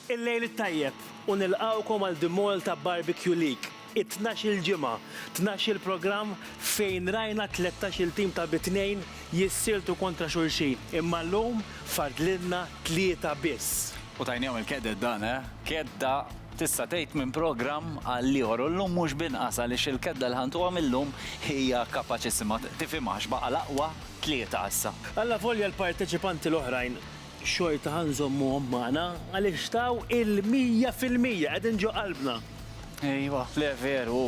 Il-lejl it-tajjeb u nilqgħukom għal The Malta Barbecue League, it-tnax-il ġimgħa, tnax-il programm fejn rajna tlettax-il tim ta' bi tnejn jissieltu kontra xulxin, imma llum fadlilna tlieta biss. U tajniehom il-keded dan, eh! Kedda tista' tgħid minn programm għall-ieħor u llum mhux b'inqas għaliex il-kedda li ħantuha mil-lum hija kapaċissima, tifhimha għax baqa' l-aqwa tlieta issa. Allavolja l-parteċipanti l-oħrajn Xorta ħa nżommuhom magħna għaliex taw il-mija fil-mija, qegħdin ġo qalbna. Ejwa, le veru,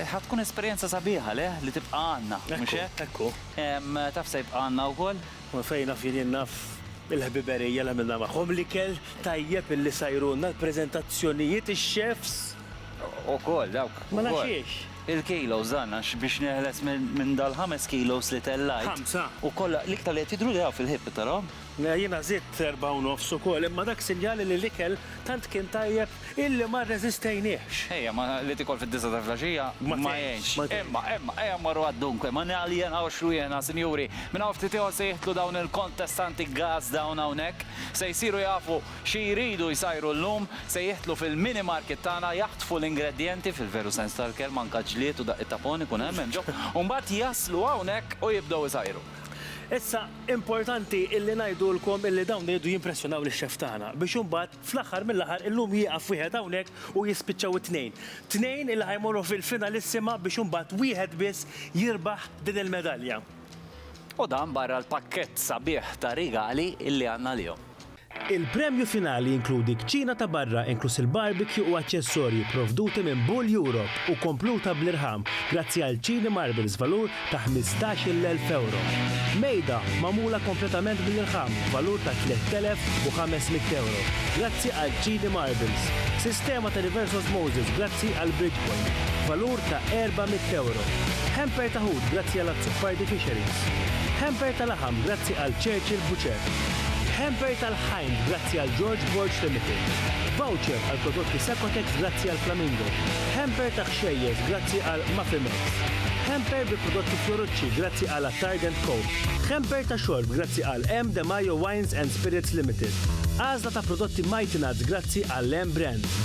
ħa tkun esperjenza sabiħa, le, li tibqa' għandna, mhux hekk? Ekku, ekku. Taf se jibqa' għandna wkoll? U fejn naf jien, jien naf il-ħbiberija li għamilna magħhom, l-ikel tajjeb li sajrulna, l-preżentazzjonijiet, ix-chefs. Ukoll, dawk, ukoll. Ma nafx xiex. Il-kilos dan, għax biex neħles minn dal-ħames kilos li tellajt. Ħamsa. U kollha, l-iktar li qed jidhru li hawn fil-ħieb, qed tarahom? Jiena żidt erbgħa u nofs ukoll, imma dak sinjali li l-ikel tant kien tajjeb illi ma rreżistejniehx. Ejja, ma li tikol fid-disgħa ta' flgħaxija ma jgħinx. Imma, imma, ejja mmorru għad-dunque, ma naljenawx rwieħna, sinjuri. Minn hawn ftit ieħor se jidħlu dawn il-kontestanti gas dawn hawnhekk. Se jsiru jafu xi jridu jsajru llum. Se jidħlu fil-mini market tagħna, jaħtfu l-ingredjenti, fil-veru sens tal-kelma, anke ġlied u daqqiet ta' phone ikun hemm hemm ġo, u mbagħad jaslu hawnhekk u jibdew isajru. Issa, Importanti illi ngħidulkom illi dawn iridu jimpressjonaw lix-xef tagħna biex imbagħad fl-aħħar mill-aħħar illum jieqaf wieħed hawnhekk u jispiċċaw it-tnejn. Tnejn illi ħa jmorru fil-finalissima biex imbagħad wieħed biss jirbaħ din il-medalja. U dan barra l-pakkett sabiħ ta' rigali illi għandna għalihom. Il-premju finali jinkludi kċina ta' barra inkluż il-barbecue u aċċessorji pprovduti minn Bull Europe u kompluta bl-irħam grazzi għal Chini Marbles b'valur ta' ħmistax-il elf ewro. Mejda magħmula kompletament bl-irħam b'valur ta' tlett elef u ħames mitt ewro grazzi għal Chini Marbles. Sistema ta' reverse osmosis grazzi għal Bridgepoint b'valur ta' erba' mitt ewro. Hamper ta' ħut grazzi għal Azzopardi Fisheries. Hamper ta' laħam grazzi għal Churchill Butcher. Hamper tal-Hind grazzi għal George Borg Limited. Voucher għal prodotti Sacotex grazzi għal Flamingo. Hamper ta' kxejjes grazzi għal Mafimex. Hamper bi prodotti Fiorucci grazzi għal Attard and Co. Hamper ta' xorb grazzi għal M. De Majo Wines and Spirits Limited. Għażla ta' prodotti Mighty Nuts grazzi għal M. Brands.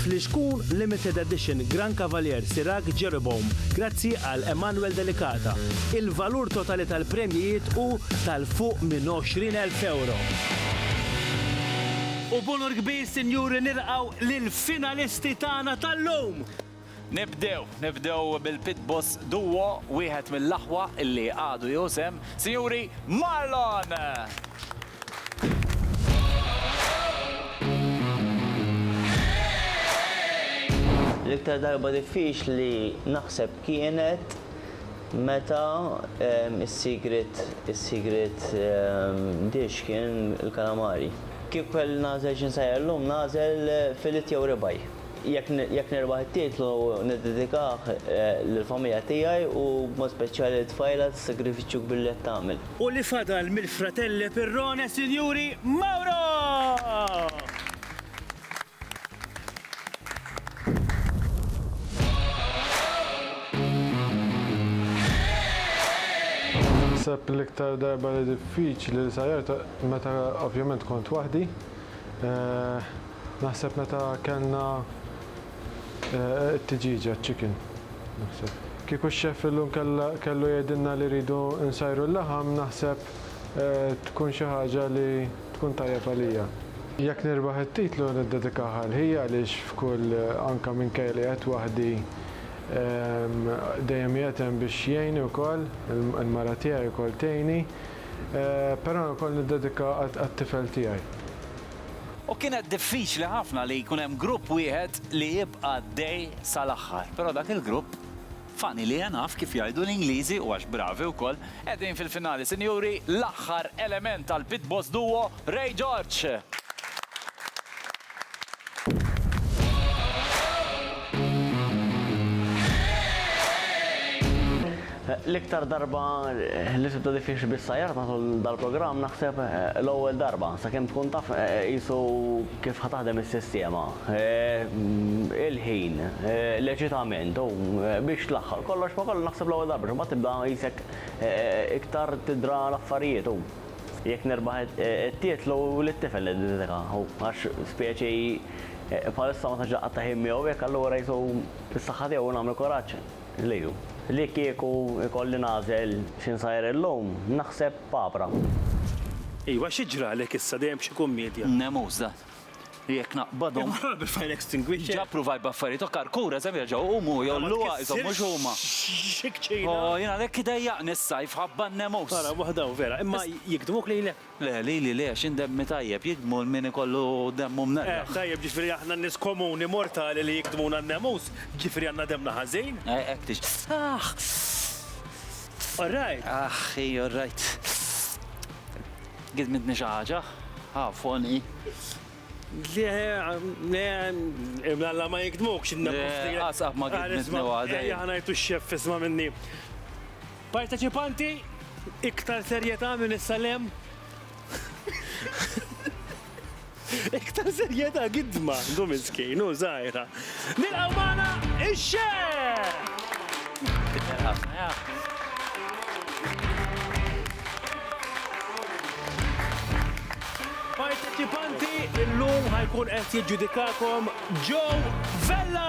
Flixkun Limited Edition Gran Cavalier Sirac Jeroboam grazzi għal Emanuel Delicata. Il-valur totali tal-premjijiet hu ta' fuq minn 20,000 ewro. U b'unur kbir, sinjuri, nilqgħu lill-finalisti tagħna tal-lum! Nibdew, nibdew bil-Pit Boss Duo, wieħed mill-aħwa li għadu jieħu sehem, sinjuri, Marlon! L-iktar darba diffiċli naħseb kienet Meta s-sigriet is-sigriet dish kien il-kalamari. Kieku kelli nagħżel xi nsajjar llum nagħżel filet jew ribeye. Jekk jekk nirbaħ it-titlu niddedikah lill-familja tiegħi u b'mod speċjali lit-tfajla tas-sagrifiċċju kbir li qed tagħmel. U li fadal mill-fratelle Pirrone, Sinjuri, Mauro! Naħseb l-iktar darba li diffiċli li sajjart meta ovvjament kont waħdi. Eh, naħseb meta kellna eh, t-tiġiġa chicken. Naħseb. Kieku x-xef illum kellu jgħidilna li rridu nsajru l-laħam, naħseb eh, tkun xi ħaġa li tkun tajjeb għalija. Jekk nirbaħ it-titlu niddedikaha għal ħija għaliex f'kull anke minkejja li qiegħed waħdi dejjem qiegħed hemm biex jgħinni wkoll, il-mara tiegħi wkoll tgħinni, però wkoll niddedikaha għat-tifel tiegħi. U kienet diffiċli ħafna li jkun hemm grupp wieħed li jibqa' għaddej sal-aħħar, però dak il-grupp, Funny li naf kif jgħidu l-Ingliżi u għax bravi wkoll. Qegħdin fil-finali sinjuri, l-aħħar element tal-Pit Boss Duo, Ray George! L-iktar darba li tibda diffiċli bis-sajjar matul dal-programm naħseb l-ewwel darba, sakemm tkun taf qisu Kif ħa taħdem is-sistema? Il-ħin, l-eċitament u biex tlaħħaq kollox ma' kollox naħseb l-ewwel darba x'imbagħad tibda qisek iktar tidra l-affarijiet u jekk nirbaħ it-titlu lit-tifel niddedika u għax specie bħalissa ma tantx inqatta' ħin miegħu jekk allura qisu s-saħħa tiegħu u nagħmel kuraġġ. Liju. Li kieku jkolli nagħżel xi nsajr illum, naħseb papra. Iva, xi ġralek issa, dejjem b'xi kummedja? Nemus dan. Jekk naqbadhom. Imur ħalaq bil-fire extinguisher. Ġa pruvaj b'affarijiet okkar, kura se jerġgħu jqumu u jgħolluha isom mhux huma. Ma tkissirx xi kċina. O, jien għalhekk idejjaqni s-sajf, ħabba n-nemus. Ara, waħda hawn vera, imma jigdmuk lilek? Le, lili le, għax jien demmi tajjeb, jigdmu 'l min ikollu demmu mnellaħ. Eh, tajjeb, jiġifieri aħna n-nies komuni, mortali li jigdmuna n-nemus, jiġifieri għandna demmna ħażin? Eh, hekk tixti. Aħ! All right! Aħ, hi, all right. Gidmitni xi ħaġa? Aw, f'għonqi. Le, le, imnalla ma jigdmukx in-nemus. Le, qas qatt ma gidmitni waħda hi. Ejja, ħa ngħidu x-xeff isma' minni. Parteċipanti, iktar serjetà minn issa 'l hemm. Iktar serjetà gidma, hu miskin, hu żgħira. Nilqgħu magħna ix-Xehh! Parteċipanti, illum ħa jkun qed jiġġudikakom Joe Vella!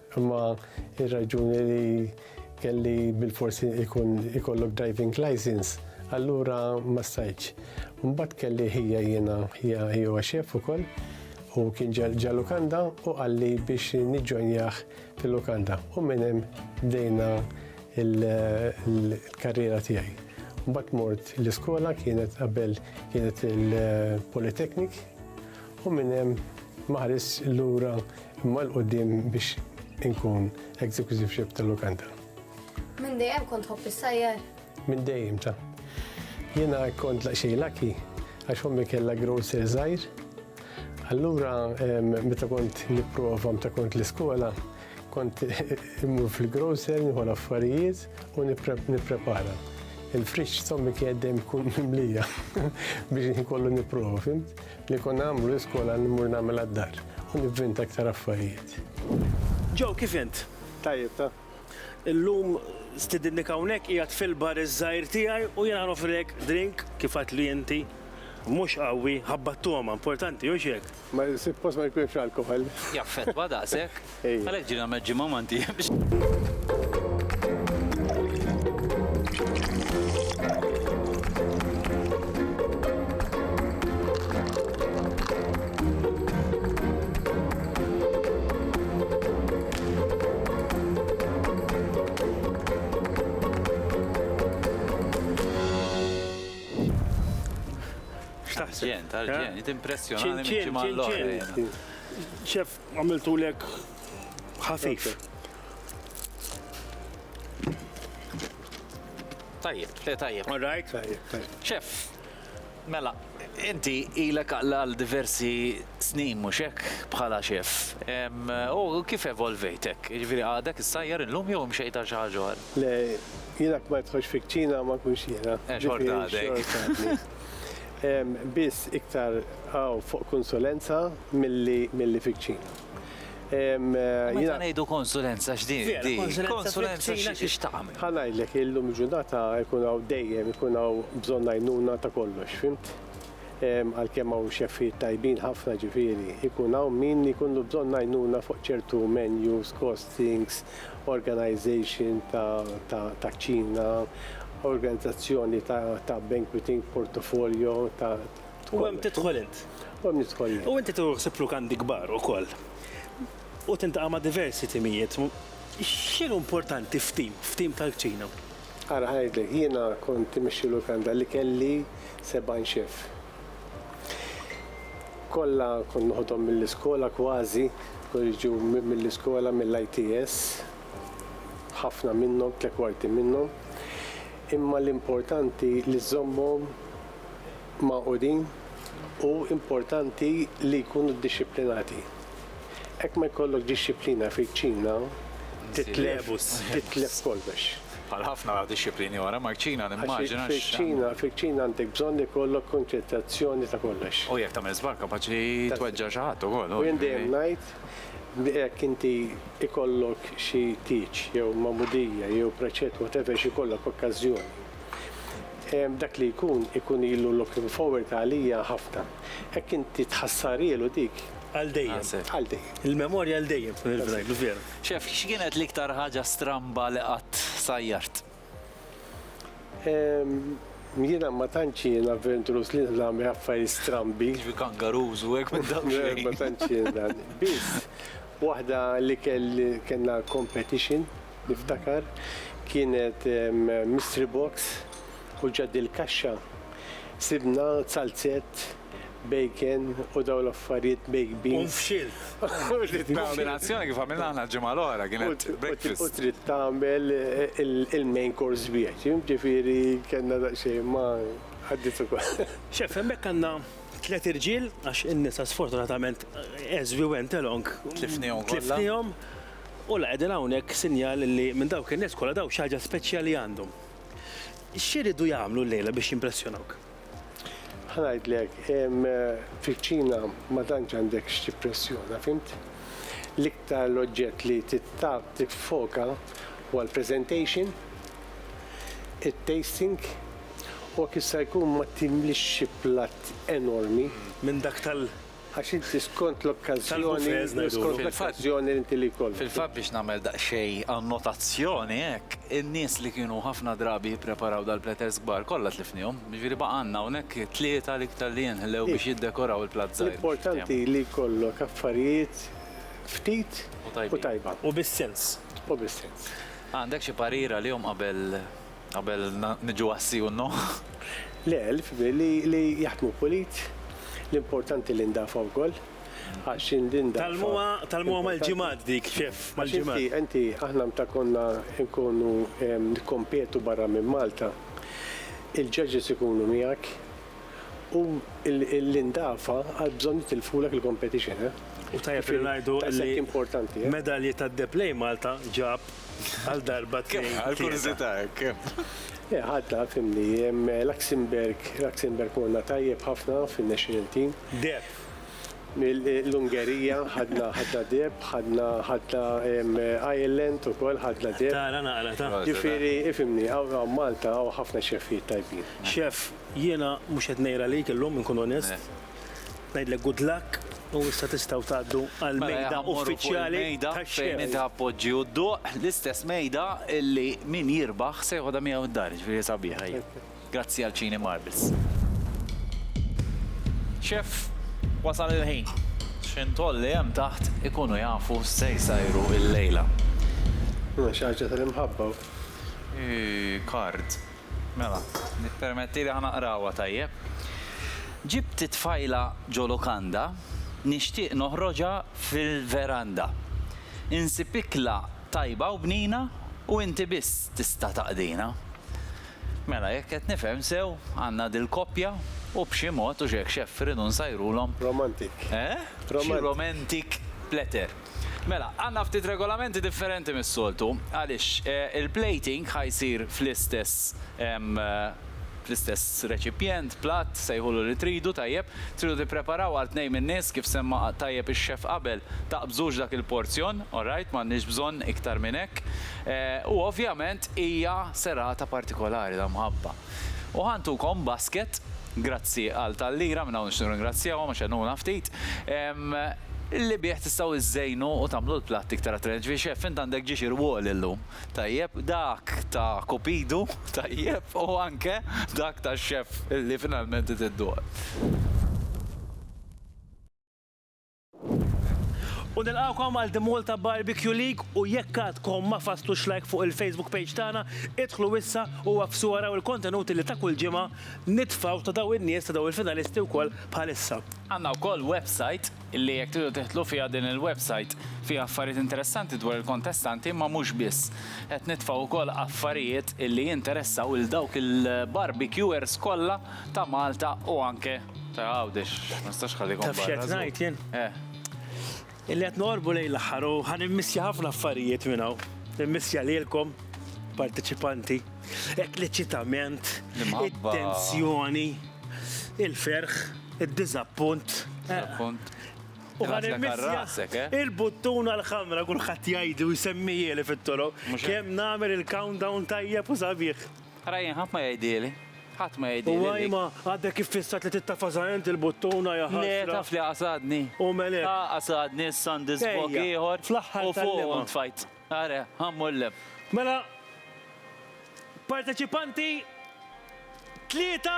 Imma ir-raġuni li kelli bil-fors ikun ikollok driving license, allura ma stajtx. Mbagħad kelli ħija jiena, ħija ħija xef ukoll, u kien ġa lukanda u qalli biex niġġonjah fil-lukanda. U minn hemm bdejna l-karriera tiegħi. Mbagħad mort l-iskola kienet qabel kienet il-Polytechnic u minn hemm ma ħarisx lura Imma 'l quddiem biex inkun Executive Chef ta' Lukanda. Minn dejjem kont tħobb issajjar? Minn dejjem ta'. Jiena kont laqxej laki għax ommi kellha grocer żgħir. Allura meta kont nipprova meta kont l-iskola, kont immur fil-grocer nieħu l-affarijiet u nipprepara. Il-friġġ tommi kien dejjem ikun mimlija biex inkollu nipprova, fimt? Li konna nagħmlu l-iskola mmur nagħmilha d-dar u nivvinta aktar affarijiet. Joe, kif int? Tajjeb, ta. Illum stidinnik hawnhekk qiegħed fil-bar iż-żgħir tiegħi u jiena nofrilek drink kif għedtli inti. Mhux qawwi, ħabbat togħma, importanti, hux hekk? Ma jsib post ma jkunx alkoħol. Jaffettwa daqshekk? Għalhekk ġie nagħmel ġimgħa ma Arġent, arġent, impressjonani minn ġimgħa l-oħra. Ċef, Għamiltu lek ħafif. Tajjeb, le tajjeb. All right? Tajjeb, tajjeb. Chef, Mela, inti ilek għal diversi snin mhux hekk bħala xef. U kif evolvejtek? Ġifieri għadek issajjar illum jew imxejt għal xi ħaġa Le, jiena kbajt ħox fikċina ma kunx jiena. Eh, xorta għadek. Hemm biss iktar hawn fuq konsulenza milli milli fiċ-ċina. U meta ngħidu konsulenza x'di? Konsulenza x'tagħmel? Ħa ngħidlek, illum il-ġurnata jkun hawn dejjem ikun hawn bżonn għajnuna ta' kollox, fimt? Għalkemm hawn xeffijiet tajbin ħafna ġifieri, ikun hawn min ikollu bżonn għajnuna fuq ċertu menus, costings, organization taċ-Ċina, organizzazzjoni ta' banqueting, portfolio ta'. U hemm tidħol int. U hemm nidħol jien. U inti tieħu ħsieb lukandi kbar ukoll. U tintaqa' ma' diversi timijiet. X'inhu importanti f'tim, f'tim tal-kċina? Ara ngħidlek, jiena kont immexxi lukanda li kelli 70 chef. Kollha kont noħodhom mill-iskola kważi, kont jiġu mill-iskola mill-ITS, ħafna minnhom, tliet kwarti minnhom. Imma l-importanti li żżommhom magħqudin u importanti li jkunu ddixxiplinati. Hekk ma jkollok dixxiplina fiċ-Ċina titlef kollox. Bħal ħafna dixxiplini oħra, maċ-Ċina nimmaġina x. Fiċ-Ċina, fiċ-Ċina għandek bżonn ikollok kunċettazzjoni ta' kollox. U jekk tagħmel żball kapaċi tweġġa' xi ħadd ukoll. U jien dejjem ngħid, jekk inti ikollok xi tieġ jew magħmudija jew preċett whatever x'ikollok okkażjoni, dak li jkun ikun ilu looking forward għalija ħafna. Hekk inti tħassarhielu dik. Għal dejjem. Għal dejjem. Il-memorja għal dejjem. Veru. Chef, x'kienet l-iktar ħaġa stramba li qatt sajjart? Jiena ma tantx jien avventurus li nagħmel affarijiet strambi. Jiġri kangaroos u hekk minn dawn xejn. Ma tantx jien dan. Biss waħda li kelli kellna competition niftakar kienet mystery box u ġad il-kaxxa sibna zalzett bacon u dawn l-affarijiet baked beans. U nfxilt. Il-kombinazzjoni kif għamilna aħna l-ġimgħa l-oħra kienet breakfast. U trid tagħmel il-main course wieħed, jiġifieri kellna daqsxejn ma għaddiet ukoll. Chef, hemmhekk għandna tliet irġiel għax in-nisa sfortunatament as we went along Tlifnihom kollha. tlifnihom u la qegħdin hawnhekk sinjal li minn dawk in-nies kollha dawn xi ħaġa speċjali għandhom. X'iridu jagħmlu llejla biex jimpressjonawk? Ħa ngħidlek, fil-kċina ma tantx għandek x'tippressjona, fhimt? L-iktar l-oġġett li tittab tiffoka huwa l-presentation, it-tasting, u jekk jista' jkun ma timlix xi platt enormi. Minn dak tal. Għax inti skont l-okkażjoni u skont l-okkażjoni li inti li jkollok. Fil-fatt biex nagħmel daqsxejn annotazzjoni hekk, in-nies li kienu ħafna drabi jippreparaw dal-platters kbar kollha tlifnihom. Jiġifieri baqa' għandna hawnhekk tlieta l-iktar li jinħlew biex jiddekoraw il-platt żgħir. L-importanti li jkollok affarijiet ftit u tajba. U bis-sens. U bis-sens. Għandek xi parir għalihom qabel Qabel niġu għas-si u n-no? Le, li jaħdmu pulit, l-importanti li ndafgħu wkoll, għax indinda. Tgħallmuha, tgħallmuha mal-ġimgħat dik, ċef, mal-ġimgħat. Inti, inti, aħna mta konna nkunu nikkompetu barra minn Malta, il-judges ikunu miegħek u l-indafa għal bżonn jitilfulek il-competition, eh? U tajjeb li ngħidu li. Daqshekk importanti, eh? Medalji tad-deheb lejn Malta ġab. Għal darba tnejn. Għal kurzita hekk. Eh, ħadda, fimni, Luxemburg, Luxemburg morna tajjeb ħafna fin-national team. Deb. L-Ungerija ħadna ħadda deb, ħadna ħadda Ireland u kol ħadna deb. Tara naqra ta' ġifiri, ifimni, għaw Malta għaw ħafna xefijiet tajbin. Xef, jiena mux qed ngħira lejk illum inkun onest. Eh. Ngħidlek good luck u issa tistgħu tgħaddu għal mela, mejda uffiċjali fejn inti appoġġi u dduq l-istess mejda illi min jirbaħ se jħodha miegħu d-dar, ġifieri sabiħa. Grazzi għal ċini Marbles. Xef, wasal il-ħin. X'intoll li hemm taħt ikunu jafu se jsajru il-lejla. Xi ħaġa tal-imħabba. Kard. Mela, ippermettili ħa naqrawha tajjeb. Ġibt it-tfajla ġo-lukanda, nixtieq noħroġha fil-veranda. Insib ikla tajba u bnina u inti biss tista' taqdina. Mela, jekk qed nifhem sew, għandna dil-koppja u b'xi mod, u x'hekk x'eff, irridu nsajrulhom. Romantic. Eh? Xi romantic letter. Mela, għandna ftit regolamenti differenti mis-soltu għaliex il-plating ħa jsir fl-istess fl-istess reċipjent, platt, sejħulu li tridu, tajjeb. Tridu tippreparaw għal tnejn min-nies kif semma tajjeb ix-chef qabel, taqbżux dak il-porzjon, alright, m'għandniex bżonn iktar minn hekk. U ovvjament hija serata partikolari ta' mħabba. U ħa ntukom basket, grazzi għal Tallira, minn hawn nixtieq nirringrazzjahom għax għenuna ftit, li bih tistgħu żżejnu u tagħmlu l-platt iktar attrajenti. Ġifieri Chef, int għandek ġiex irwol illum, tajjeb, dak ta' Cupido, tajjeb, u anke dak tax-Chef li finalment trid idduq. U nilqgħukom għal The Malta Barbecue League u jekk għadkom ma fasslux like fuq il-Facebook page tagħna, idħlu issa u agħfsu araw il-kontenuti li ta' kull ġimgħa nitfgħu ta' dawn in-nies ta' dawn il-finalisti wkoll bħalissa. Għandna wkoll website li jekk tridu tidħlu fiha din il-website fiha affarijiet interessanti dwar il-kontestanti imma mhux biss. Qed nitfgħu wkoll affarijiet li jinteressaw lil dawk il-barbecuers kollha Ta' Malta u anke ta' Għawdex. Ma nistax nħallikom barra. Taf x'qed ngħid jien? Eh. Illi qed noqorbu lejn l-aħħar u ħa nimmissja ħafna affarijiet minn hawn. Nimmissja lilkom, parteċipanti, hekk l-eċitament, it-tensjoni, il-ferħ, id-diżappunt. Diżappunt. U ħa nimmissja il-buttuna l-ħamra kulħadd jgħidli u jsemmihieli fit-toroq kemm nagħmel il-countdown tajjeb u sabiħ. Ara jien ħadd ma jgħidhieli. Ħadd ma jgħidhieli dik. U Ajma, għadek iffissat li tittafasha int il-buttuna, ja ħasra. Le, taf li qasadni. U Melek. Ah, qasadni, issa għandi żbokk ieħor. Ejja, fl-aħħar tal-lema. U fuqu ntfajt. Ara, ha mhu l-lem. Mela, parteċipanti tlieta.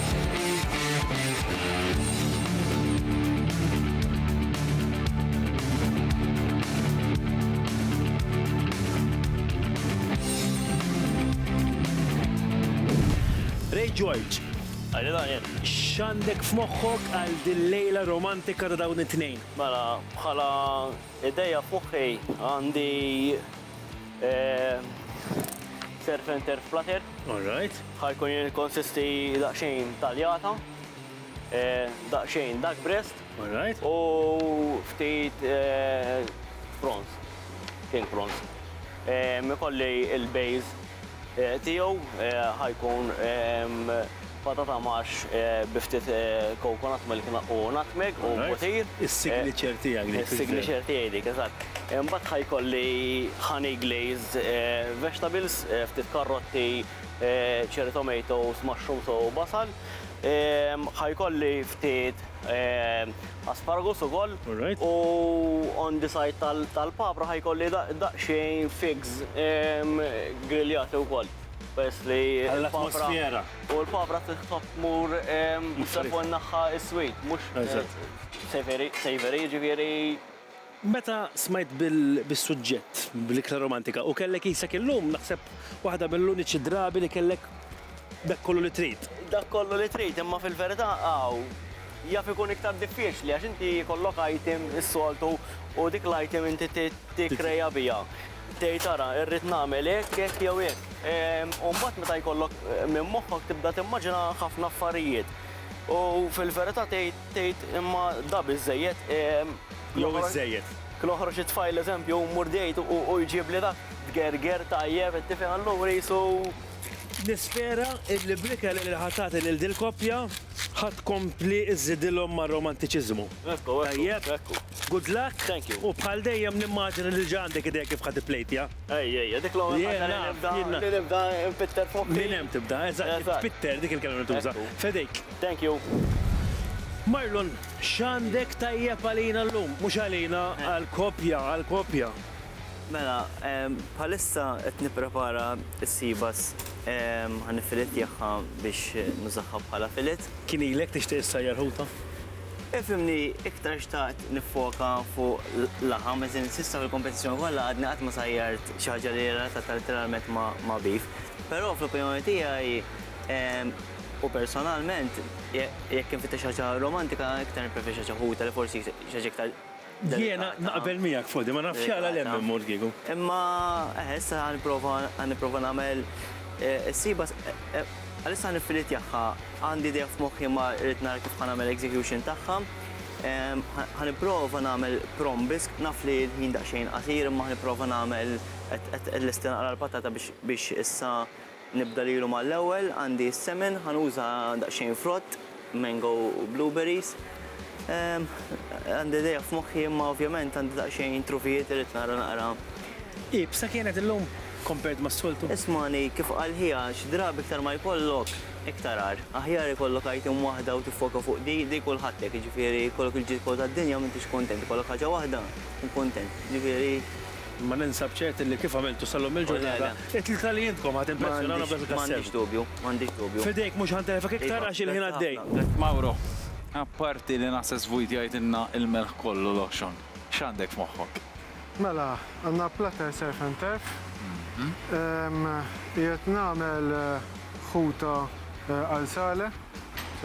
Ray George, Għalli Daniel. x'għandek f'moħħok għal din lejla romantika ta' dawn it-tnejn? Mela, bħala ideja f'moħħi għandi Surf and turf flutter. All right. Ħajkun jikkonsisti daqsxejn taljata, daqsxejn dark breast. All right. U ftit prawns, king prawns. Ikolli il-base tiegħu ħajkun Patata marsh bi ftit coconut milk u nutmeg u butir. Is-signature tiegħek dik. Is-signature tiegħi dik, eżatt. Imbagħad ħa jkolli honey glazed vegetables, ftit karrotti, cherry tomatoes, mushrooms u basal. Ħa jkolli ftit asparagus ukoll. U on the side tal-papra ħa jkolli daqsxejn figs griljati wkoll. Peress li l-atmosfera. U l-pavra titħobb tmur fuq in-naħa is-sweet, mhux savory, savory, jiġifieri. Meta smajt bis-suġġett bl-ikla romantika u kellek qisek illum, naħseb waħda mill-uniċi drabi li kellek dak kollu li trid. Dak kollu li trid, imma fil-verità hawn jaf ikun iktar diffiċli għax inti jkollok item is-soltu u dik l-item inti tikkrea biha. Tgħid ara, irrid nagħmel hekk, hekk jew hekk. U mbagħad meta jkollok minn moħħok tibda timmaġina ħafna affarijiet. U fil-verità tgħid, tgħid imma da biżżejjed. Jew iżżejjed. Noħroġ it-tfajl eżempju, mmur date u jġibli dak, tgerger, tajjeb, qed tifhem, allura qisu. Nispera illi bl-ikel illi ħa tagħti lil dil-koppja, ħa tkompli żżidilhom mar-romantiċiżmu. Ekku, ekku, ekku. Good luck. Thank you. U bħal dejjem nimmaġina li diġa għandek idea kif ħa tipplejtja. Ej, ej, ej, dik l-ewwel Jien ħaġa li naf, nibda, jien naf. li nibda npitter fuq. Minn hemm tibda, eżatt, Eżatt. tpitter, dik il-kelma li tuża. Ekku. F'idejk. Thank you. Marlon, x'għandek tajjeb għalina llum? Mhux għalina, għall-koppja, għall-koppja. Mela, ehm, bħalissa qed nipprepara s-seabass, ehm, ħa niffilettjahha biex nużahha bħala fillet. Kien ilek tixtieq issajjar ħuta? Ifhimni iktar xtaqt niffoka fuq laħam, as in s'issa fil-kompetizzjoni kollha għadni qatt ma sajjart xi ħaġa li hija relatata letteralment ma' beef. Però fl-opinjoni tiegħi u personalment jekk infittex xi ħaġa romantika iktar nippreferi xi ħaġa ħuta li forsi xi ħaġa iktar Jiena naqbel miegħek fuq din, ma nafx għala l-hemm immur kieku. Imma eħe, issa ħa nipprova ħa nipprova nagħmel is-sieba għalissa ħa nifilitjahha. Għandi idea f'moħħi imma rrid nara kif ħa nagħmel execution tagħha. Ħa nipprova nagħmel prom biss, naf li l-ħin daqsxejn qasir imma ħa nipprova nagħmel qed qed lesti naqra l-patata biex issa Nibda lilu mal-ewwel, għandi s-semen, ħa nuża daqsxejn frott, mango u blueberries. Għandi idea f'moħħi imma ovvjament għandi daqsxejn trufijiet li rrid nara naqra. Iebsa kienet illum compared mas-soltu? Ismagħni, kif qal ħija, xi drabi iktar ma jkollok, iktar agħar. Aħjar ikollok item waħda u tiffoka fuq di, di kulħadd hekk, jiġifieri jkollok il-ġid kollu tad-dinja m'intix kuntent, ikollok ħaġa waħda tkun kuntent. Jiġifieri. Imma ninsab ċert illi kif għamiltu sa llum il-ġurnata, it-tlieta li intkom ħa timpressjonawna b'dak il-kassett. M'għandix dubju, m'għandix dubju. F'idejk mhux ħa ntelfek iktar għax il-ħin għaddej. Mauro, apparti li naħseb Sweet jgħidilna il-melħ kollu loxon, x'għandek f'moħħok? Mela, għandna platter surf and turf. Qiegħed nagħmel. Ħuta għal Saleh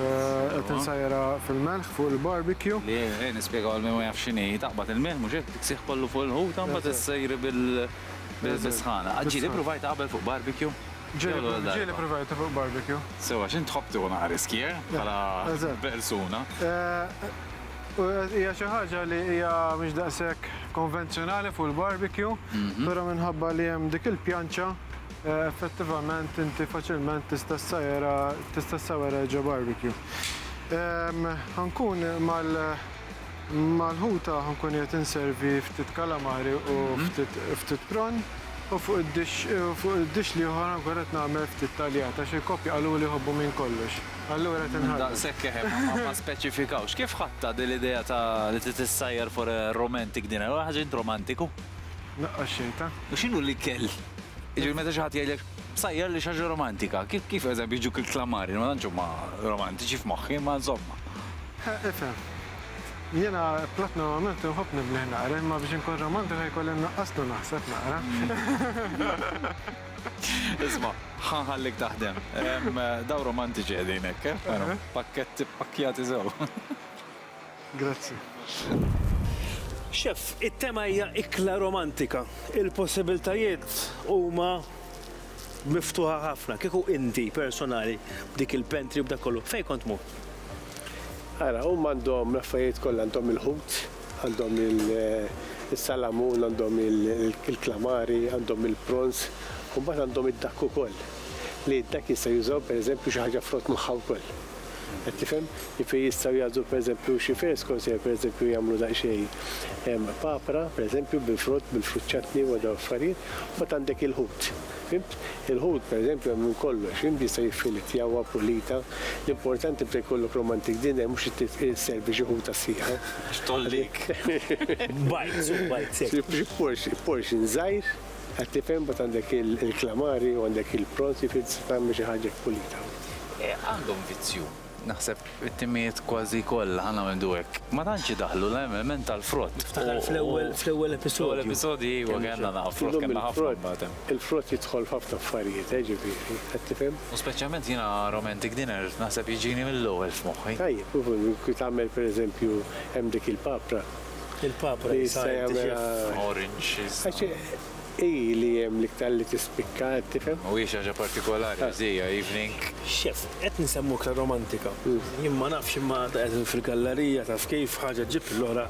qed insajjarha fil-melħ fuq il-barbecue. Le, ejja nispjegaw għal min ma jafx x'inhi. Taqbad il-milħ, mhux hekk? Tiksih kollu fuq il-ħuta u mbagħad issejri bis-sħana. Qatt ġieli ppruvajtha qabel fuq barbecue? Jew l-ewwel darba? Ġieli ppruvajtha fuq barbecue. Sewwa, x'int tħobb tieħu naqra riskji, eh? Eżatt. Bħala persuna. Hija xi ħaġa li hija mhix daqshekk konvenzjonali fuq il-barbecue, però minħabba li hemm dik il-pjanċa Effettivament inti faċilment tista' ssajjarha tista' ssawwarha ġo barbecue. Ehm, Ħankun mal mal-ħuta ħankun qiegħed inservi ftit kalamari u ftit ftit prawn u fuq id-dix u fuq id-dix l-ieħor ħankun qed nagħmel ftit taljat għax il-koppja qaluli jħobbu minn kollox. Allura qed inħarrġ. Daqshekk keħeb ma ma ma speċifikawx. Kif ħadtha din l-idea ta' li trid issajjar for a romantic dinner? Huwa ħaġa int romantiku? Naqqas xejn ta'. U x'inhu l-ikel? Jiġifieri meta xi ħadd jgħidlek Sajjar li xi ħaġa romantika, kif kif eżempju jiġuk il-klamari li ma tantx huma romantiċi f'moħħi imma insomma. Eħe, ifhem. Jiena platt normalment inħobb nibnih naqra imma biex inkun romantiku se jkolli nnaqqaslu naħseb naqra. Isma', ħa nħallik taħdem. Dawn romantiċi qegħdin hekk, eh, veru. Pakketti ppakkjati sew. Grazzi. Chef, it-tema hija ikla romantika. Il-possibiltajiet huma miftuħa ħafna. Kieku inti personali b'dik il-pantry u b'dak kollu, fejn kont tmur? Ara, huma għandhom l-affarijiet kollha, għandhom il-ħut, għandhom is-salamun, għandhom il-klamari, għandhom il-prawns, u mbagħad għandhom id-dakk ukoll. Li d-dakk jistgħu jużaw pereżempju xi ħaġa frott magħha wkoll. Qed tifhem? Jiġifieri jistgħu jagħżlu pereżempju xi freskos jew jistgħu pereżempju jagħmlu daqsxejn papra, pereżempju bil-frott, bil-frut chutney u dawn l-affarijiet, u mbagħad għandek il-ħut. Fhimt? Il-ħut pereżempju hemm minn kollox, fhimt, jista' jiffilet, jahwa, pulita. L-importanti meta jkollok romantic dinner mhux li tisservi xi ħuta sħiħa. Għax tgħollik. Bites u bites hekk. Xi portion, portion żgħir, qed tifhem, mbagħad għandek il-calamari u għandek il-prawns, jiġifieri tista' tagħmel xi ħaġa hekk pulita. għandhom vizzju. Naħseb it-timijiet kważi kollha ħa ngħidu hekk, ma tantx idaħħlu l-element tal-frott. Niftakar fl-ewwel fl-ewwel episodju. Fl-ewwel episodji iva kellna naqgħa frott kellna ħafna mbagħad hemm. Il-frott jidħol f'ħafna affarijiet eh ġifieri, qed tifhem? U speċjalment jiena romantic dinner naħseb jiġini mill-ewwel f'moħħi. Tajjeb, kif tagħmel pereżempju hemm dik il-papra. Il-papra li jista' jagħmilha. Orange. Għax Hi li hemm l-iktar li tispikka, qed tifhem? U hi xi ħaġa partikolari, Għażija, evening. X'jaf, qed nsemmu iktar romantika. Jien ma nafx imma għadha qegħdin fil-gallarija, taf kif, ħaġa ġġib lill-oħra.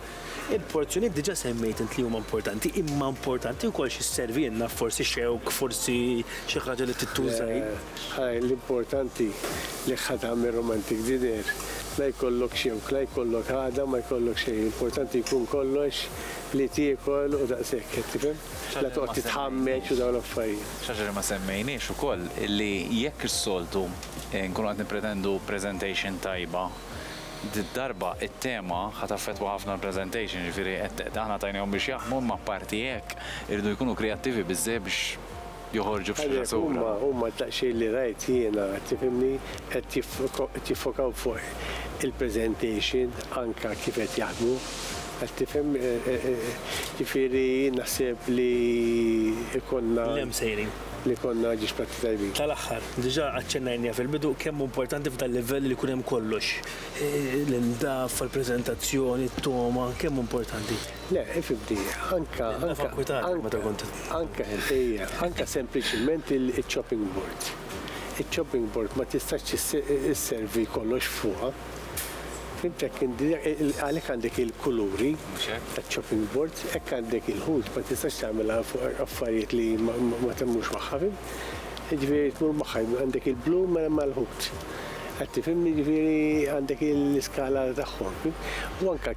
Il-porzjonijiet diġà semmejt int li huma importanti, imma importanti wkoll xi sservilna, forsi xewk, forsi xi ħaġa li tittuża hi. Le, hi l-importanti li ħa tagħmel romantic dinner. La jkollok xewk, la jkollok għada ma jkollok xejn, l-importanti jkun kollox Li tiekol u daqshekk, qed tifhem? La toqgħod titħammeġ u dawn l-affarijiet. Xi ħaġa li ma semmejniex ukoll li jekk is-soltu nkunu qed nippretendu presentation tajba, did-darba t-tema ħa taffettwa ħafna l-presentation, jiġifieri qed aħna tajnihom biex jaħdmu imma apparti hekk iridu jkunu kreattivi biżżejjed biex, joħorġu f'xena soda. Għalhekk huma, huma daqsxejn li rajt jiena, tifhimni, qed jiffokaw fuq il-presentation anke kif qed jaħdmu. Qed tifhem? Ġifieri jien naħseb li jkollna. Li hemm sejrin. Li jkollna ġiex platti tajbin. Tal-aħħar, diġà aċċennajniha fil-bidu kemm hu importanti f'dal-livell li jkun hemm kollox, l-indaffa, l-preżentazzjoni, t-togħma, kemm hu importanti. Le, ifimti, anka. Anka kwitanti meta kont. Anka, ejja, anka sempliċiment il-chopping board. Il-chopping board ma tistax isservi kollox fuqha. Fimt hekk għalhekk għandek il-kuluri taċ-chopping board, hekk għandek il-ħut ma tistax tagħmilha fuq affarijiet li ma temmux magħha, fimt? Jiġifieri tmur magħha, għandek il-blu mela mal-ħut. Qed tifhimni jiġifieri għandek l-iskala tagħhom, fimt? U anka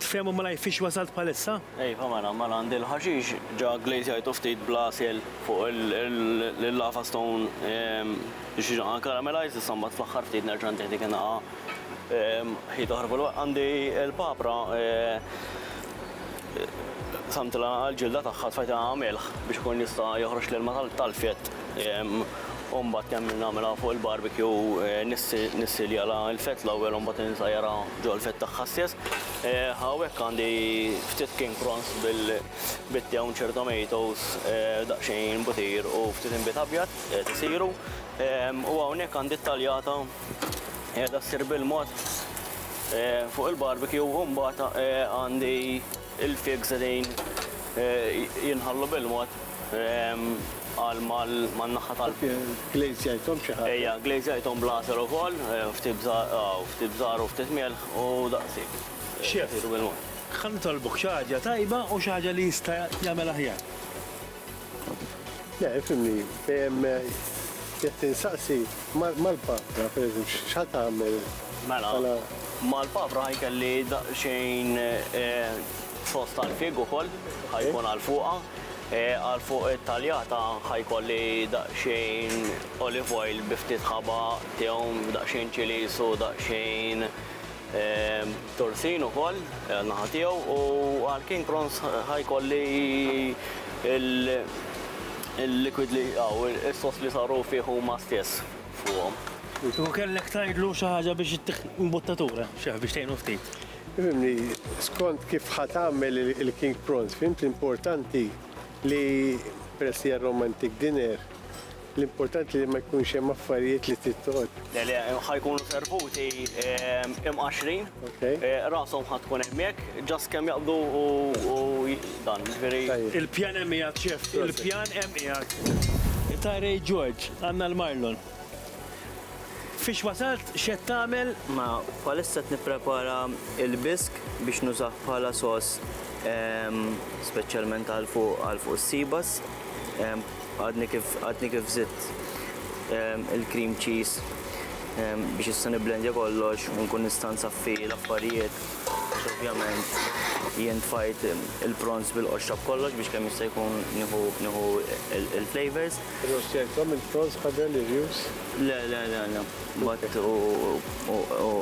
Tfehmu malajr fiex wasalt bħalissa? Iva mela, mela għandi l-ħaxix ġa gglejżjajtu ftit bl-għasel fuq il-lava stone biex jiġi karamelajżd, issa mbagħad fl-aħħar ftit nerġa' ntih dik in-nagħa ħit oħra fuq. Għandi l-papra qsamtilha l-ġilda tagħha tfajtilha ma' milħ biex ikun jista' joħroġ l-ilma tal-fjett. U mbagħad kemm nagħmilha fuq il-barbecue nissiljalha l-fett l-ewwel u mbagħad insajjarha ġo l-fett tagħha stess. Hawnhekk għandi ftit king prawns bil-toncher tomatoes, daqsxejn butir u ftit inbid abjad qed isiru. U hawnhekk għandi t-taljata qiegħda ssir bil-mod fuq il-barbecue u mbagħad għandi Il-pigs qegħdin jinħallu bil-mod għal man-naħa tal-. Glaze jgħidhom xi ħaġa. Ejja, glaze jgħidhom bl-għasel ukoll, ftit bżar u ftit milħ u daqshekk. Chef, ħa nitolbok xi ħaġa tajba u xi ħaġa li jista' jagħmel aħjar. Le, ifhimni, jekk tinsaqsi mal-papra, per eżempju, x'ħa tagħmel? Mela, mela. mal-papra ħajkelli daqsxejn eh, sos tal-fig ukoll, ħajkun eh? għal fuqha. Eh, għal fuq it-taljata ħajkolli daqsxejn olive oil bi ftit ħaba, tewm, daqsxejn ċilis u daqsxejn Torsin ukoll għan-naħa tiegħu u għal King Prawns ħa jkolli l-liquid li hawn, is-sos li saru fih huma stess fuqhom. U kellek tgħidlu xi ħaġa biex ittiħ imbuttatura, Chef, biex tgħinu ftit. Fimni, skont kif ħa tagħmel il-King Prawns, fimt li importanti li peress li hija romantic dinner, L-importanti li ma jkunx hemm affarijiet li trid toqgħod. Le le, ħa jkunu servuti imqaxxrin. Rashom ħa tkun hemmhekk, just kemm jaqbdu u dan, jiġifieri. Il-pjan hemm qiegħed, Chef, il-pjan hemm qiegħed. Tyree George, għandna l-marlon. Fiex wasalt, x'qed tagħmel? Mela, bħalissa qed nipprepara l-bisk biex nużah bħala sauce speċjalment għal fuq għal fuq is-sibas. Għadni kif għadni kif zitt il-cream cheese biex issa niblendja kollox u nkun nista' nsaffi l-affarijiet. Ovvjament jien tfajt il-prawns bil-qoxra b'kollox biex kemm jista' jkun nieħu il-flavors. Irrostjajthom il-prawns qabel, Irjus? Le, le, le, le. Mbagħad u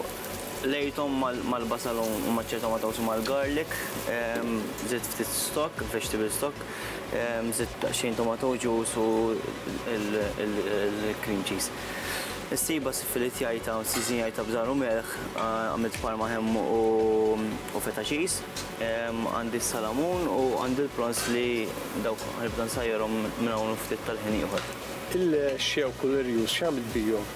lejthom mal-basal u maċċajthom ma' tawsi mal-garlic. Żidt ftit stock, vegetable stock. Żidt daqsxejn tomato juice u l-cream cheese. Issibha siffilitjajta u ssiżinjajta b'żar u melħ, għamilt parma ham u feta cheese. Għandi s-salamun u għandi l-prawns li dawk ħanibda nsajjarhom minn hawn u ftit tal-ħin ieħor. Il-xewk u l-irjus x'għamilt bihom?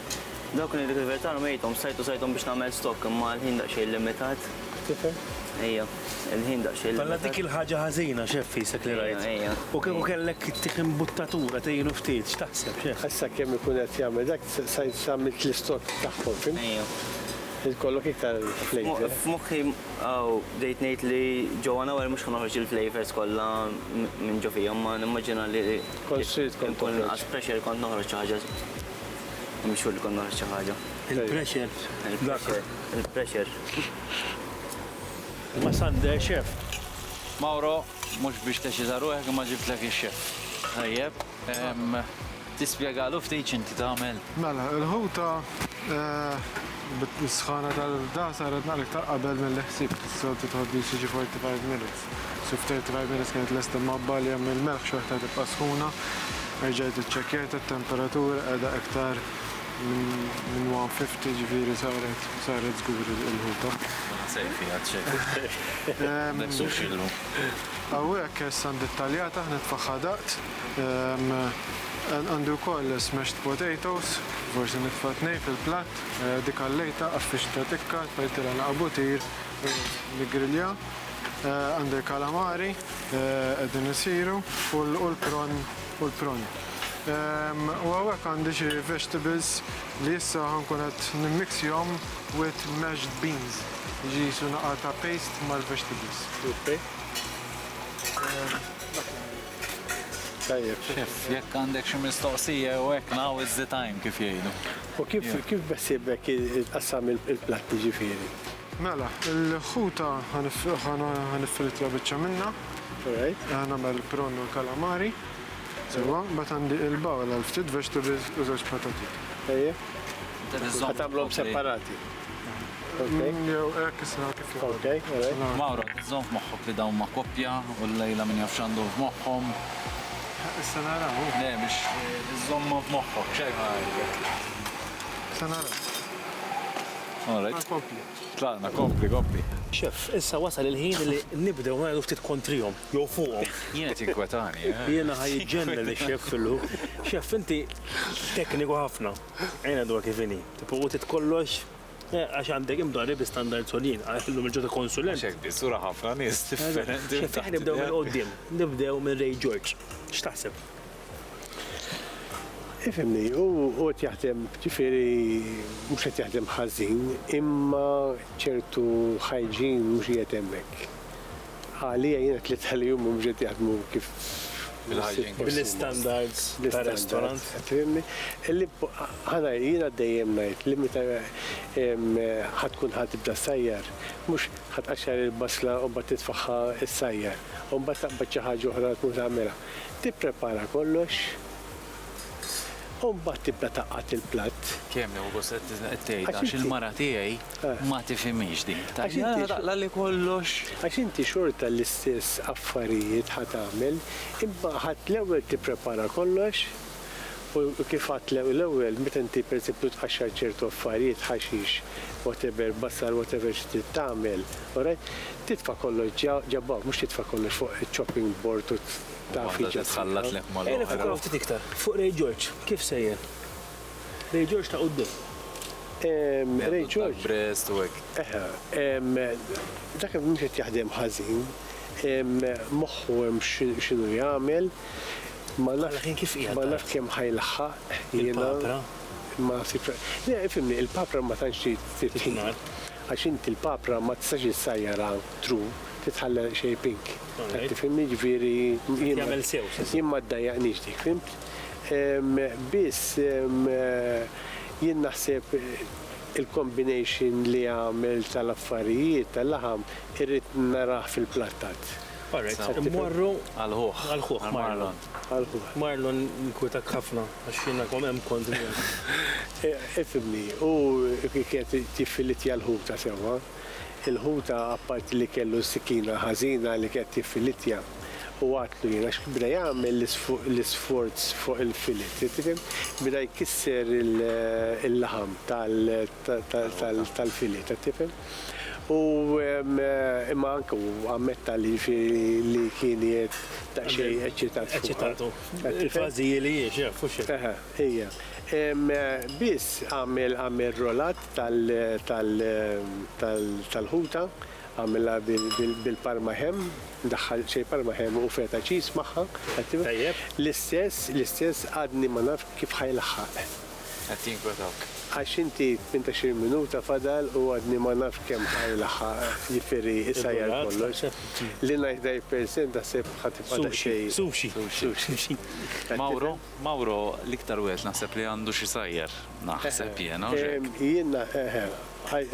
Dawk ngħidlek il-verità rmejthom, stajt użajthom biex nagħmel stock imma l-ħin daqsxejn limitat. Tifhem? Ejja. Il-ħin daqsxejn. Mela dik il-ħaġa ħażina xef fisek li rajt. U kieku kellek tieħ imbuttatura tgħinu ftit, x'taħseb xef? Issa kemm ikun qed jagħmel dak sa għamilt l-istokk tagħhom, fimt? Irid jkollok iktar flejver. F'moħħi hawn bdejt ngħid li ġewwa hawn mhux ħa noħroġ il-flejvers kollha minn ġo fihom ma nimmaġina li kont trid kont tkun inqas pressure kont noħroġ xi ħaġa. Mhux xogħol li kont noħroġ xi ħaġa. Il-pressure. Il-pressure. Il-pressure. Imma Sande chef. Mauro, mhux biex teċita ruħek imma ġibtlek ix-chef. Tajjeb. Tispjegalu ftit x'inti tagħmel? Mela, il-ħuta bis-sħana tal-irda saret naqra iktar qabel milli ħsibt. Is-soltu tħoddix jiġi 45 minutes. So f'35 minutes kienet lesta mgħabbgħa li hemm il-melħ xorta tibqa' sħuna. Erġajt iċċekkjajtha t-temperatura qiegħda iktar Minn 150 ġifieri saret saret żgur il-ħuta. Ma naħseb fiha t-check. Dak suxillu. Hawnhekk issa ndittaljat aħna tfagħha daqt. Għandi wkoll smashed potatoes, forsi nitfa' tnejn fil-platt, dik għallejtha, qaffixtha tikka, tfajtilha naqa' butir u niggrilja. Għandi l-kalamari qegħdin isiru u l-prawn u l-prawn. U hawnhekk għandi xi vegetables li issa ħa nkun qed nimmixjhom with mashed beans. Jiġi qisu naqgħa ta' paste mal-vegetables. Okay. Tajjeb. Chef, jekk għandek xi mistoqsija jew hekk now is the time kif jgħidu. U kif kif beħsiebek tqassam il-platti ġifieri? Mela, il-ħuta ħa niffrittja biċċa minnha. Alright. Ħa nagħmel il-prawn u l-kalamari. Sewwa, mbagħad għandi il-bowl għal ftit vegetables u żewġ patati. Ejja. Ħa tagħmluhom separati. Jew hekk issa kif jogħġbok. Okej, alright. Mawro, żomm f'moħħok li dawn ma' koppja u llejla min jaf x'għandhom f'moħħhom. Issa naraw. Le, biex iżżommhom f'moħħok, x'għajb ħa ngħidlek. Issa naraw. All right. Kompli. Tlaqna, kompli, kompli. Chef, issa wasal il-ħin li nibdew ngħidu ftit kontrihom, jew fuqhom. Jien qed jinkwetani. Eh? Jiena ħaj ġenna li chef fillu. Chef, inti tekniku ħafna. Għajna dwar kif inhi. Tipo, u titkollox eh, għax għandek imdorri bi standard soljien, għallum il-ġota konsulent. Xek bi, sura ħafna nis differenti. Xek, nibdew minn qoddim, nibdew minn Ray George. X'taħseb? Ifhimni, hu qed jaħdem, ġifieri mhux qed jaħdem ħażin, imma ċertu hygiene mhux qiegħed hemmhekk. Għalija jien it-tliet li huma mhux qed jaħdmu kif Il-hygiene. Bl-istandards ta' restaurant. Fhimni? Li ħa ngħid, jiena dejjem ngħid li meta ħa tkun ħa tibda ssajjar, mhux ħa tqaxxar il-basla u mbagħad titfagħha ssajjar, u mbagħad taqbad xi ħaġa oħra tmur tagħmilha. Tipprepara kollox u mbagħad tibda tgħaqqad il-platt. Kemm hu gost qed qed tgħidha għax il-mara tiegħi ma tifhimhiex din. Tgħid le ħa taqla' li kollox. Għax inti xorta l-istess affarijiet ħa tagħmel, imma ħa l-ewwel tipprepara kollox. U kif għadt l-ewwel, meta inti pereżempju tqaxxar ċertu affarijiet, ħaxix, whatever, bassar, whatever xi trid tagħmel, alright, titfa' kollox ġa ġa b'hawn, mhux titfa' kollox fuq chopping board u taf li ġa tħallat. Ejja niffukaw ftit iktar fuq Ray George, kif sejjer? Ray George ta' quddiem. Ray George. Brest u hekk. Eħe, dak mhux qed jaħdem ħażin, moħħu hemm x'inhu jagħmel. Bħala kien kif qiegħed tgħid. Ma nafx kemm ħa jlaħħaq jiena. Il-papra? Ma ħsibx fuqha. Le, ifhimni, il-papra ma tantx trid tingħad. Għax inti l-papra ma tistax issajjarha true, trid tħallha xejn pink. Qed tifhimni? Jiġifieri jiena. Tagħmel sew, xi nsejħilha. Jien ma ddajjaqnix dik, fhimt? Biss jien naħseb il-combination li għamel tal-affarijiet, tal-laħam, irrid narah fil-plattat. All right, se mmorru għall-ħuħ. Għall-ħuħ, Marlon. Għall-ħuħ. Marlon, inkwitak ħafna għax jiena kom hemm kont miegħek. Ifhimni, hu kienet tiffiletja l-ħuta sewwa. Il-ħuta apparti li kellu s-sikkina ħażina li kienet tiffiletja, hu għattlu jien għax beda jagħmel l-isforz fuq il-fillet, tifhem? Beda jkisser il-laħam tal-fillet, qed tifhem? U imma anke hu ammetta li li kien qiegħed daqsxejn eċċitat fuqha. Eċċitatu. Il-fażi hi li hi, x'jaf, fu xejn. Eħe, hija. Biss għamel għamel rolat tal tal tal tal-ħuta, għamilha bil-parma ham, daħħal xejn parma ham u feta cheese magħha, qed tifhem? Tajjeb. L-istess, l-istess għadni ma nafx kif ħajlaħħaq. qed jinkwetawk? Għax inti f'inta xi minuta fadal u għadni ma nafx kemm ħa jilaħħaq, jifieri isajjar kollox. Li ngħix dgħajf percent naħseb ħa tibqa' daqsxejn. Sushi, sushi. Mauro, Mauro l-iktar wieħed naħseb li għandux isajjar, naħseb jiena, hux hekk? Jien, eħe,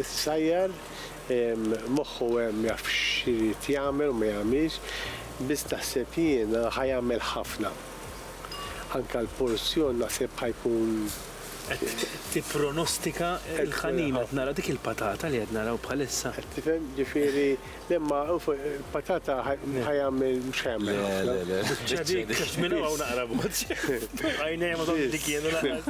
isajjar, moħħu hemm jaf x'irid jagħmel u ma jagħmilx, biss naħseb jiena ħa jagħmel ħafna. Anke l-porzjon naħseb ħa jkun. Qed tippronostika l-ħanin qed nara dik il-patata li qed naraw bħalissa. Qed tifhem, ġifieri le imma il-patata ħa jagħmel mhux ħa jagħmel ħafna. Le, le, le. Biċċa dik qed minn hawn naqra b'mod. Għajnejja ma tgħoddx dik jiena lanqas.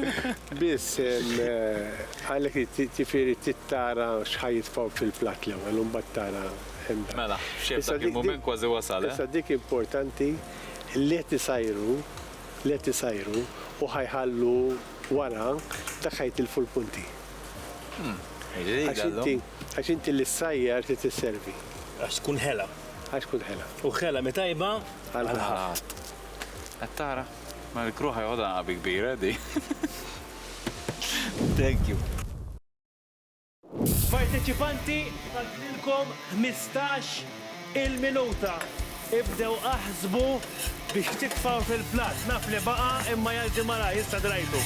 Biss għalhekk irid ġifieri trid tara x'ħa jitfgħu fil-platt l-ewwel u mbagħad tara. Mela, x'hekk dak il-mument kważi wasal, eh? Issa dik importanti. li qed isajru, li qed isajru u ħa jħallu wara, dak ħa jitilfu l-punti. Għax inti, għax inti li ssajjar trid isservi. Għax tkun ħela. Għax tkun ħela. U ħela mi tajba għal ħadd. Qed tara? Ma dik ruħha joħodha għabi kbira di. Thank you. Parteċipanti fadlilkom ħmistax il-minuta. Ibdew aħsbu biex titfgħu fil-platt. Naf li baqa' imma jgħaddi malajr, issa drajtu.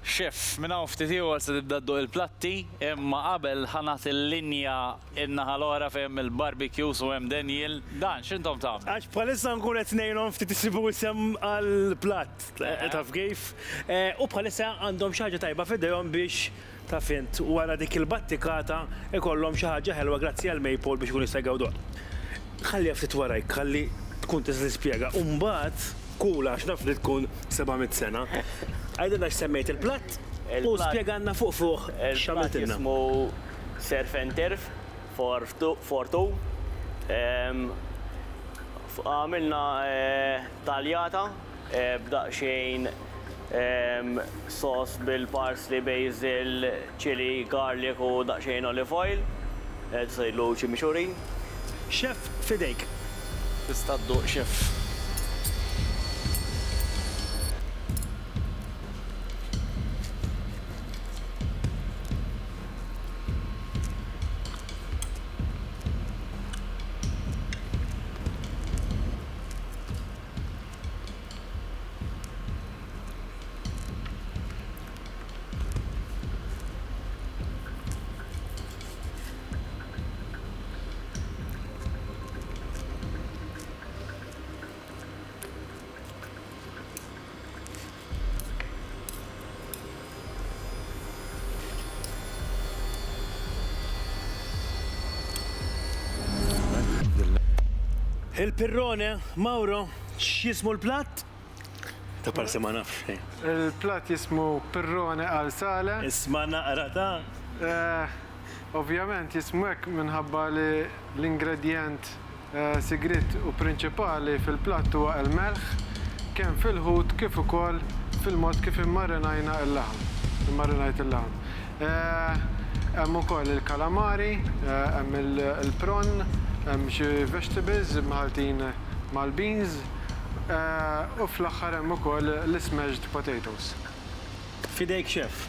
Chef, minn hawn ftit ieħor se tibda dduq il-platti, imma qabel ħa nagħti l-linja n-naħa l-oħra fejn hemm il-barbecues u hemm Daniel. Dan, x'intom tagħmlu? Għax bħalissa nkun qed ngħinhom ftit isibu isem għall-platt, taf kif? U bħalissa għandhom xi ħaġa tajba f'idejhom biex, taf int, wara dik il-battikata jkollhom xi ħaġa ħelwa grazzi għal Maple biex ikunu jistgħu jgawduha. Ħalliha ftit warajk, ħalli tkun tista' tispjega. U mbagħad. Cool għax naf li tkun 700 sena. Għidilna x'semmejt il-platt u spjegalna fuq fuq x'għamiltilna. Il-platt jismu surf and turf for for two. Għamilna taljata b'daqsxejn sauce bil-parsley, basil, Chili, garlic u daqsxejn olive oil. Tista' tgħidlu chimichurri. Chef, f'idejk. Tista' dduq chef. Il-pirrone, Mauro, x'jismu l-platt? Ta' parsi ma nafx xejn. Il-platt jismu pirrone al sale. Isma' naqra ta'? Eh, ovvjament jismu hekk minħabba li l-ingredjent sigriet u prinċipali fil-platt huwa l-melħ, kemm fil-ħut kif ukoll fil-mod kif immarinajna l-laħam, immarinajt il-laħam. Hemm ukoll il-calamari, hemm il-prawn, hemm xi vegetables mħalltin mal-beans, u fl-aħħar hemm ukoll l-smashed potatoes. F'idejk chef.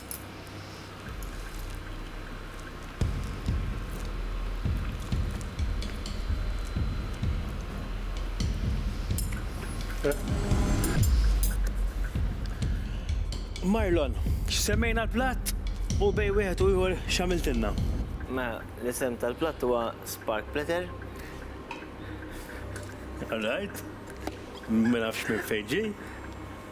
Marlon, x'semmejna l-platt u bejn wieħed u ieħor x'għamiltilna? Mela, l-isem tal-platt huwa Spark Platter. All right. Ma nafx minn fejn ġie.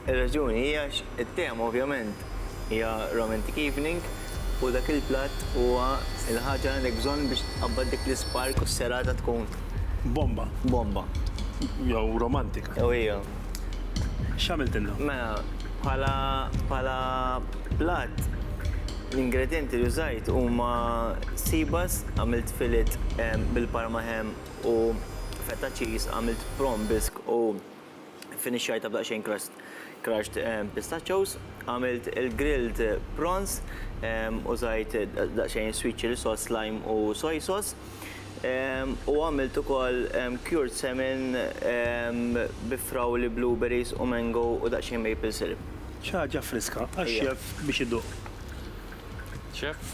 Ir-raġuni hi għax it-tema ovvjament hija romantic evening u dak il-platt huwa l-ħaġa li għandek bżonn biex tqabbad dik l-ispark u s-serata tkun. Bomba. Bomba. Jew romantika. Jew hija. X'għamiltilna? Mela, bħala bħala platt l-ingredjenti li użajt huma sibas, għamilt fillet bil-parma ham u feta cheese, għamilt prawn bisque u, Finixxajtha b'daqsxejn crushed pistachios, għamilt il-grilled prawns, użajt daqsxejn sweet chilli sauce, lime u soy sauce. U għamilt ukoll cured salmon bi frawli, blueberries u mango u daqsxejn maple syrup. Xi ħaġa friska għax-chef biex iduq. Chef?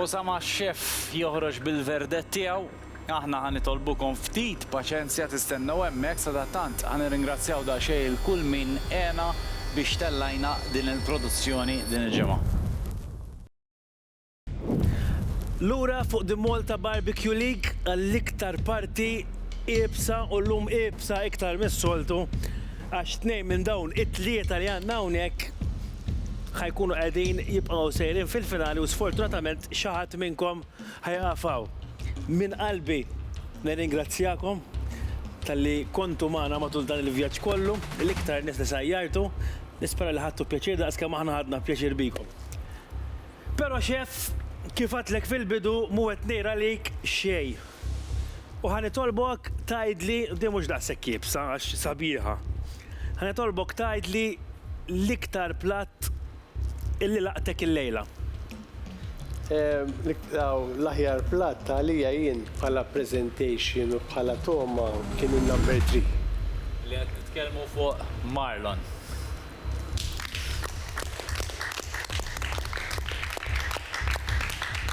Osama Chef joħroġ bil-verdett tiegħu Aħna ħa nitolbukom ftit paċenzja tistennew hemmhekk, sadattant ħa nirringrazzjaw daqsxejn lil kull min għena biex tellajna din il-produzzjoni din il-ġimgħa. Lura fuq The Malta Barbecue League għall-iktar parti iebsa u llum iebsa iktar mis-soltu għax tnejn minn dawn it-tlieta li għandna hawnhekk ħa jkunu qegħdin jibqgħu sejrin fil-finali u sfortunatament xi ħadd minnkom Ħa jieqaf hawn. Minn qalbi nirringrazzjakom talli kontu magħna matul dan il-vjaġġ kollu, l-iktar nies li sajjartu, nispera li ħadtu pjaċir daqs kemm aħna ħadna pjaċir bikom. Però Xeff, kif għadtlek fil-bidu mhu qed ngħir għalik xejn. U ħa nitolbok tgħidli, di mhux daqshekk iebsa għax sabiħa, ħa nitolbok tgħidli l-iktar platt illi laqtek illejla. L-aħjar platt għalija jien bħala presentation u bħala togħma kien in-number three. Li qed nitkellmu fuq Marlon.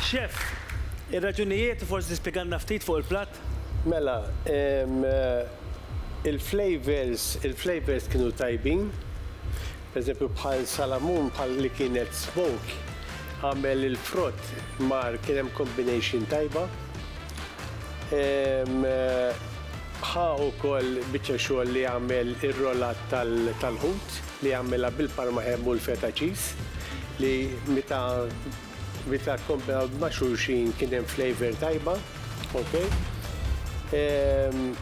Chef, ir-raġunijiet u forsi tispjegalna ftit fuq il-platt? Mela, il-flavours, il-flavours kienu tajbin. Pereżempju bħal Salamun bħal li kien qed smoke għamel il-frott mar kien hemm combination tajba. Ħa ukoll biċċa xogħol li għamel ir-rollat tal-ħut li għamilha bil-parma ham u l-feta cheese li meta Meta kkompared ma' xulxin kien hemm flavor tajba, okej.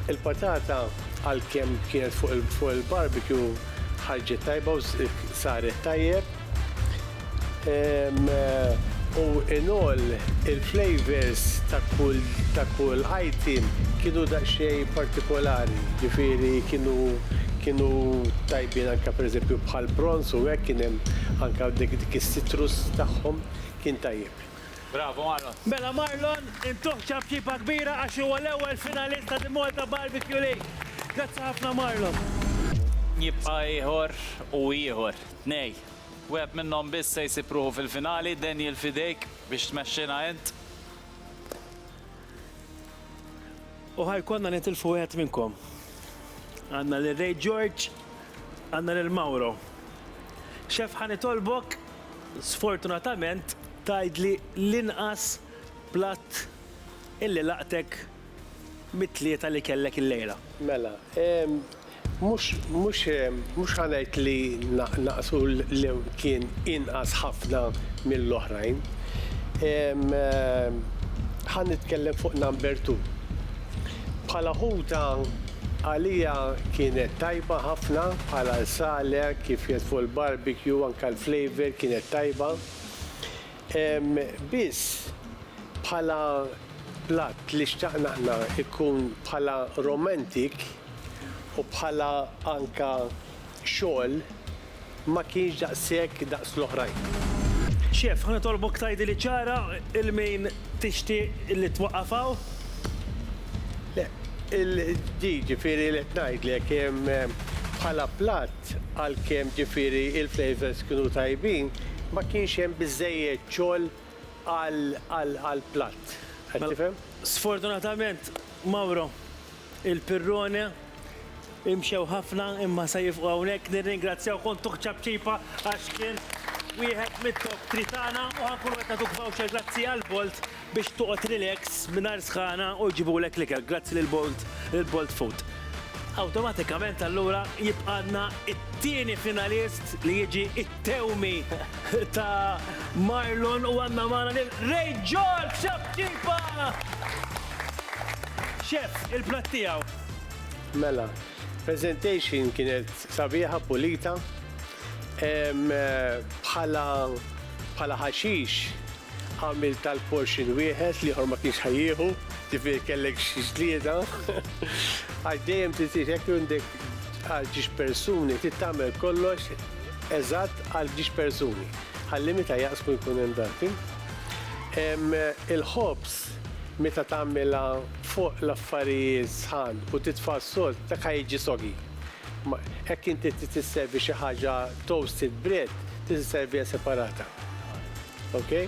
Il-patata għalkemm kienet fuq il-barbecue ħarġet tajba u saret tajjeb. U in all il-flavors ta' kull ta' kull item kienu daqsxejn partikolari, ġifieri kienu kienu tajbin anke pereżempju bħall-prawns u hekk kien hemm anke dik Citrus tagħhom kien tajjeb. Bravo Marlon. Mela Marlon intuh ċapċipa kbira għax huwa l-ewwel finalist ta' The Malta Barbecue League. Grazzi ħafna Marlon. Jibqa' ieħor u ieħor. Tnej. Wieħed minnhom biss se jsib ruħu fil-finali. Daniel f'idejk biex tmexxina int. U ħa jkollna nitilfu wieħed minnkom. Għandna lil Ray George Għandna lil Mauro. Chef ħa nitolbok sfortunatament tgħidli l-inqas platt illi laqtek mit-tlieta li kellek illejla. Mela, mhux mhux mhux ħa ngħid li naqsu lew kien inqas ħafna mill-oħrajn. Ħa nitkellem fuq number two. Bħala ħuta, għalija kienet tajba ħafna, bħala l-sale kif jgħid fuq il-barbecue anke l-flavour kienet tajba. Biss, bħala platt li xtaqna aħna jkun bħala romantic u bħala anke xogħol ma kienx daqshekk daqs l-oħrajn. Xief, ħa nitolbok tgħidili ċara 'l min tixtieq li twaqqaf hawn? Le, il-di, ġifieri li qed ngħidlek, bħala platt, għalkemm ġifieri l-flavours kienu tajbin, ma kienx hemm biżżejjed xogħol għall-platt. Qed tifhem? Sfortunatament, Mauro, il-Pirrone, imxew ħafna imma se jifqu hawnhekk. Nirringrazzjaw Kontuħ Ċapċipa għax kien wieħed mit-top tri tagħna u ħankunu qed nagħtuk voucher grazzi għal Bolt biex toqgħod relax mingħajr sħana u jġibulek l-ikel grazzi lil Bolt lil Bolt Food. Awtomatikament allura jibqgħalna t-tieni finalist li jiġi Tewmi ta' Marlon u għandna magħna lil Ray George Xabċipa! Chef, il-platt tiegħu. Mela, presentation kienet sabiħa, pulita. Bħala bħala ħaxix għamilt għal portion wieħed, l-ieħor ma kienx ħa jieħu, ġifieri kellek xi ġlieda. Għax dejjem trid hekk għandek għal ġiex persuni trid tagħmel kollox eżatt għal ġiex persuni. Ħalli meta jaqsmu jkun hemm dati. Il-ħobż meta tagħmilha fuq l-affarijiet sħan u titfa' s-sod dak ħa jiġi soggy. Hekk inti trid tisservi xi ħaġa toasted bread trid isserviha separata. Okay?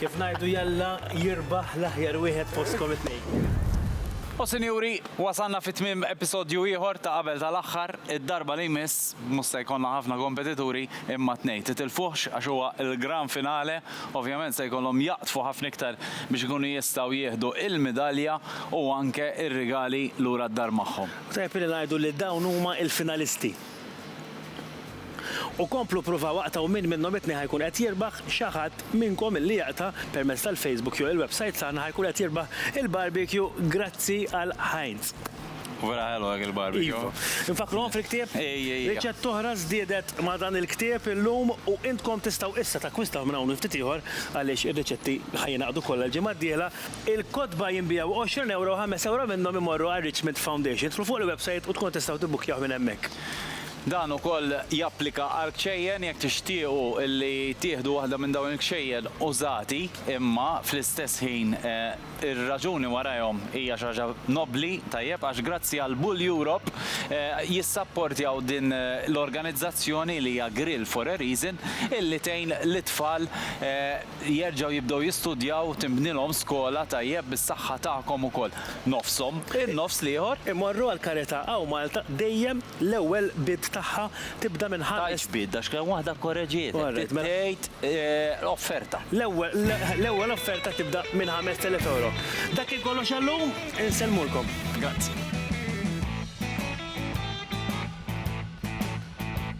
Kif ngħidu jalla jirbaħ l-aħjar wieħed fostkom it-tnejn. U sinjuri, wasalna fi tmiem episodju ieħor ta' Qabel tal-Aħħar. Id-darba li jmiss mhux se jkollna ħafna kompetituri imma t-tnejn. Titilfuhx għax huwa l-gran finale. Ovvjament se jkollhom jaqdfu ħafna iktar biex ikunu jistgħu jieħdu l-midalja u anke r-rigali lura d-dar magħhom. Tajjeb li ngħidu li dawn huma l-finalisti. U komplu ppruvaw aqtgħu min minnhom it-tnejn ħa jkun qed jirbaħ, xi ħadd minnkom illi jaqta' permezz tal-Facebook jew il-websajt tagħna ħa jkun qed jirbaħ il-barbecue Grazzi għal Heinz. Vera ħelu dak il-barbecue. Iva. Infakkruhom fil-ktieb? Ejja, ejja. Riċetta oħra żdiedet ma' dan il-ktieb illum u intkom tistgħu issa takkwistaw minn hawn u ftit ieħor għaliex ir-riċetti ħa jingħaqdu kollha l-ġimgħa d-dieħla Il-kotba jinbiegħu għoxrin ewro u ħames ewro minnhom imorru għal Richmond Foundation. Idħlu fuq il-websajt u tkunu tistgħu tibbukkjawh minn hemmhekk. Dan ukoll japplika għall-kxejjen, jekk tixtiequ li tieħdu waħda minn dawn il-kxejjen użati imma fl-istess ħin ir-raġuni warajhom hija xi ħaġa nobbli, tajjeb, għax grazzi għal Bull Europe jissapportjaw din l-organizzazzjoni li hija Grill for a Reason illi tgħin lit-tfal jerġgħu jibdew jistudjaw tinbnilhom skola tajjeb bis-saħħa tagħkom ukoll. Nofshom, in-nofs l-ieħor. Immorru għall-karità hawn Malta dejjem l-ewwel bid tagħha tibda minn ħames. Tgħidx bid għax kien waħda kkoreġietek, trid tgħid offerta. L-ewwel offerta tibda minn ħamest elef ewro. Dak kien kollox għallum, insellmulkom. Grazzi.